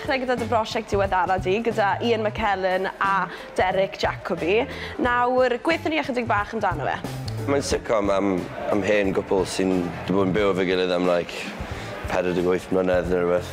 ddechrau gyda dy brosiect diweddara di, gyda Ian McKellen a Derek Jacobi. Nawr, gweithio ni ychydig bach amdano fe. Mae'n sitcom am, am hen gwpl sy'n bod yn byw efo'i gilydd am like 48 mlynedd neu rhywbeth.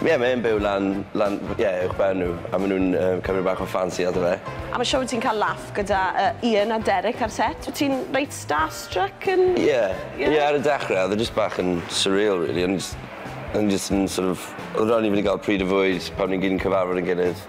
Ie mae e'n byw lan lan ie uwchben nhw a ma' nhw'n yy cymryd bach o ffansi ato fe. Am y show wyt ti'n cael laff gyda yy Ian a Derek ar set, wyt ti'n reit starstruck yn... Ie ie ar y dechre odd e jyst bach yn surreal rili o'n i jyst o'n i jyst yn sort of odd raid i fi 'di ga'l pryd o fwyd pan o'n ni gyd yn cyfarfod ein gilydd.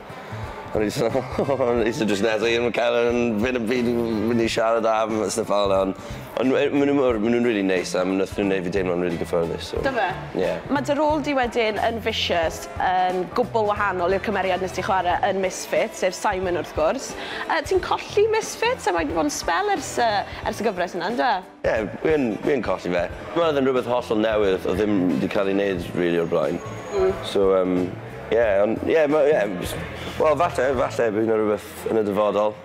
O'n i jyst fel o'n i jyst yn jyst nes i 'im yn ca'l yym ddim yn byd i fi myn' i siarad am a styff fel 'a on' on' nw yy ma' nw mor ma' nw'n rili neis a ma' nath nw neud fi deimlo'n rili gyffyrddus so... Do fe? Ie. Ma' dy rôl di wedyn yn Vicious yn gwbwl wahanol i'r cymeriad nes di chware yn Misfits sef Simon wrth gwrs yy ti'n colli Misfits a mae 'di fod yn sbel ers yy ers y gyfres yna on'd yw e? Ie, fi yn, fi yn colli fe. Dwi me'wl odd e'n rwbeth hollol newydd odd ddim 'di ca'l ei neud rili o'r blaen. Hmm. So yym ie on' ie ma' ie js wel falle falle bydd 'na rwbeth yn y dyfodol.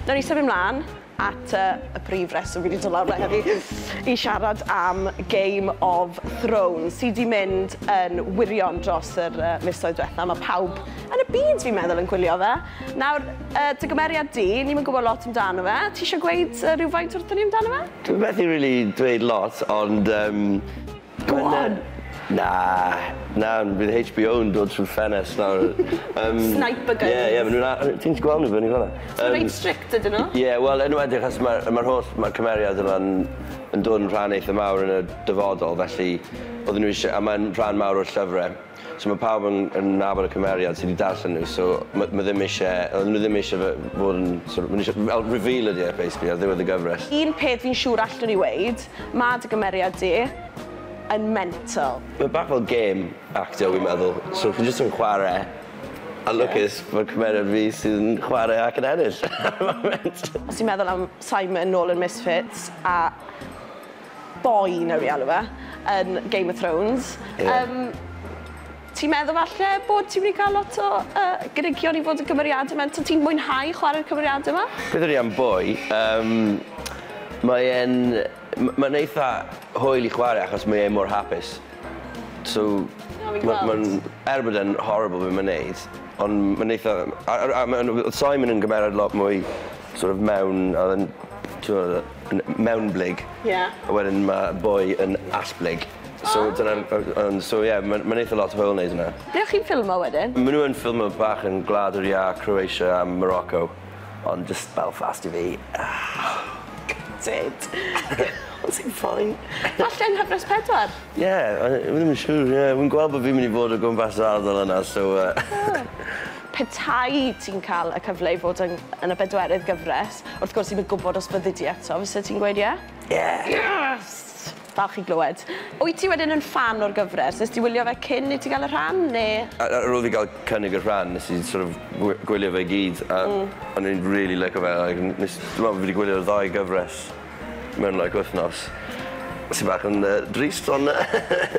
Newn ni symud mlan. at y prif reswm fi 'di dod lawr 'ma heddi i siarad am Game of Thrones sy 'di mynd yn wirion dros yr uh, misoedd diwetha'. Mae pawb yn y byd fi'n meddwl yn gwylio fe. Nawr, uh, dy gymeriad di, ni'n mynd gwybod lot amdano fe. Ti eisiau gweud uh, rhywfaint wrthyn ni amdano fe? Dwi'n methu really dweud lot, ond um, Gwan! Na, na, bydd HBO yn dod trwy'r ffenest nawr. Yym... Sniper guns. Ie, ie, ma' nw'n a- yy ti'n gallu gweld nw fyny fynna. Yym... Ma' reit strict ydyn nw? Ie, wel enwedig achos ma'r yy ma'r holl ma'r cymeriad yma'n yn dod yn rhan eitha mawr yn y dyfodol felly odden nw isie a mae'n rhan mawr o'r llyfre. So ma' pawb yn yn nabod y cymeriad sy 'di darllen nw so ma' ma' ddim isie oedden nw ddim isie fe fod yn sort of ma' nw isie fel reveal ydi e basically ar ddiwedd y gyfres. Un peth fi'n siŵr allwn i weud, ma' dy gymeriad di yn mental. Mae bach fel gêm actio wi'n meddwl so chi jyst yn chware a lwcus fod cymeriad fi sydd yn chware ac yn ennill ar y foment. Os ti'n meddwl am Simon nôl yn Misfits a boi newn ni alw fe yn Game of Thrones. Ie. Yym ti'n meddwl falle bod ti'n myn' i ca'l lot o yy gynigion i fod yn cymeriade mewn t- ti'n mwynhau chware'r cymeriade 'ma? Meddwn i am boi yym mae e'n m- ma'n eitha hwyl i chware achos mae e mor hapus so O'n i'n gweld. ma' ma'n er bod e'n horrible be' ma'n neud on' ma'n eitha a a a ma' yn o- odd Simon yn gymeryd lot mwy sor' of mewn a o'dd e'n t'mo' yy yn mewnblyg. Ie. A wedyn ma' boi yn allblyg. O! So dyna'r yy yym so ie ma' ma'n eitha lot o hwyl neud wnna. Ble o' chi'n ffilmo wedyn? Ma' nw yn ffilmo bach yn Gwlad yr Iâ, Croatia a Morocco ond jyst Belfast i fi. Gutted. Ond ti'n fine. Gall gen Hyfryd pedwar. Ie yy fi ddim yn siŵr ie fi'n gweld bo' fi myn' i bod o gwmpas yr ardal yna so yy. O. Petai ti'n cael y cyfle i fod yn yn y bedwerydd gyfres, wrth gwrs ti'm yn gwybod os byddi di eto, fyset ti'n gweud ie? Ie! Yes! Falch i glywed. Wyt ti wedyn yn ffan o'r gyfres? Nes di wylio fe cyn i ti gael y rhan, neu...? A- a- ar ôl fi gael cynnig y rhan nes i sort of gwi- gwylio fe i gyd a... Mm. ...o'n i'n rili lico fe like n- nes dwi me'wl fi 'di gwylio'r ddau gyfres mewn like wythnos sy bach yn yy drist on' yy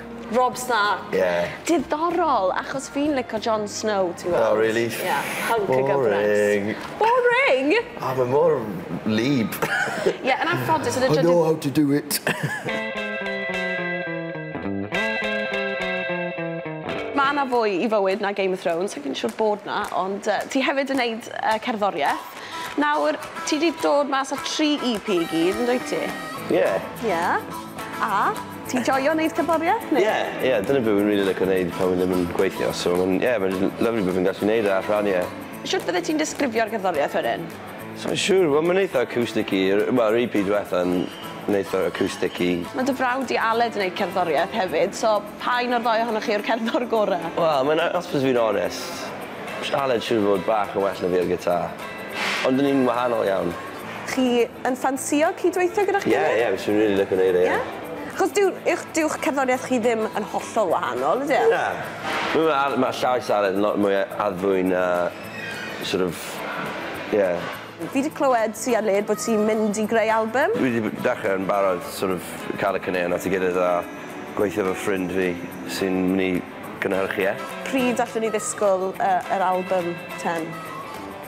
Rob Stark. Ie. Diddorol achos fi'n lico Jon Snow ti'n gweld. O rili? Ie. Hunk o gyfres. Boring. Boring? O ma' mor wlyb. Ie yn anffodus yn y drydydd... I know how to do it. Ma' 'na fwy i fywyd na Game of Thrones sai'n siŵr bod 'na ond yy ti hefyd yn neud yy cerddorieth. Nawr ti 'di dod mas â tri EP i gyd yndwyt ti? Ie. Ie. A Ti'n joio neud cerddoriaeth ne'? Ie ie dyna be' fi'n rili lico neud pan wi ddim yn gweithio so ma'n ie ma'n l- lyfli bo' fi'n gallu neud e a rhan ie. Shwt fyddet ti'n disgrifio'r gerddoriaeth wedyn? Sai'n siŵr wel ma'n eitha acoustic i r- wel yr i pi dwetha'n yn eitha acoustic i. Ma' dy frawd di Aled yn neud cerddoriaeth hefyd so pa un o'r ddou ohonoch chi yw'r cerddor gore? Wel mae'n a- os byddwn fi'n onest sh- Aled siŵr o fod bach yn well na fi ar gitar. Ond 'dyn ni'n wahanol iawn. Chi yn ffansïo cyd-weithio gyda chi? Yeah yeah fyswn i'n rili lico neud e ie. Ie? Achos dyw uwch dyw'ch cerddoriaeth chi ddim yn hollol wahanol ydi e? Na. Dwi me'wl ar- ma' llais Aled yn lot mwy yy addfwyn a sort of ie. Fi 'di clywed ti a Led bo' ti'n mynd i greu albym. Dwi 'di b- dechre yn barod sort of ca'l y caneuon at 'i gilydd a gweithio efo ffrind fi sy'n myn' i gynhyrchu e. Pryd allwn ni ddisgwl yy yr albym ten?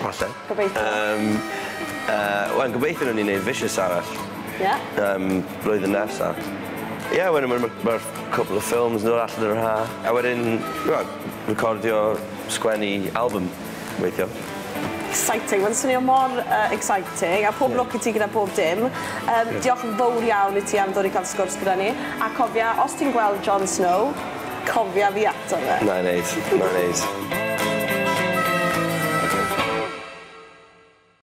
Falle. Gobeithio. Yym yy wel gobeithio newn ni neud Vicious arall. Ie. Yym flwyddyn nesa. Ie wedyn ma' ma' ma'r cwpwl o ffilms nôl allan yr ha'. A wedyn wel recordio sgwennu album gobeithio. Exciting ma'n swnio mor yy exciting a pob lwc i ti gyda pob dim. Yym diolch yn fowr iawn i ti am ddod i ca'l sgwrs gyda ni a cofia os ti'n gweld Jon Snow cofia fi ato fe. Nai neud, nai neud.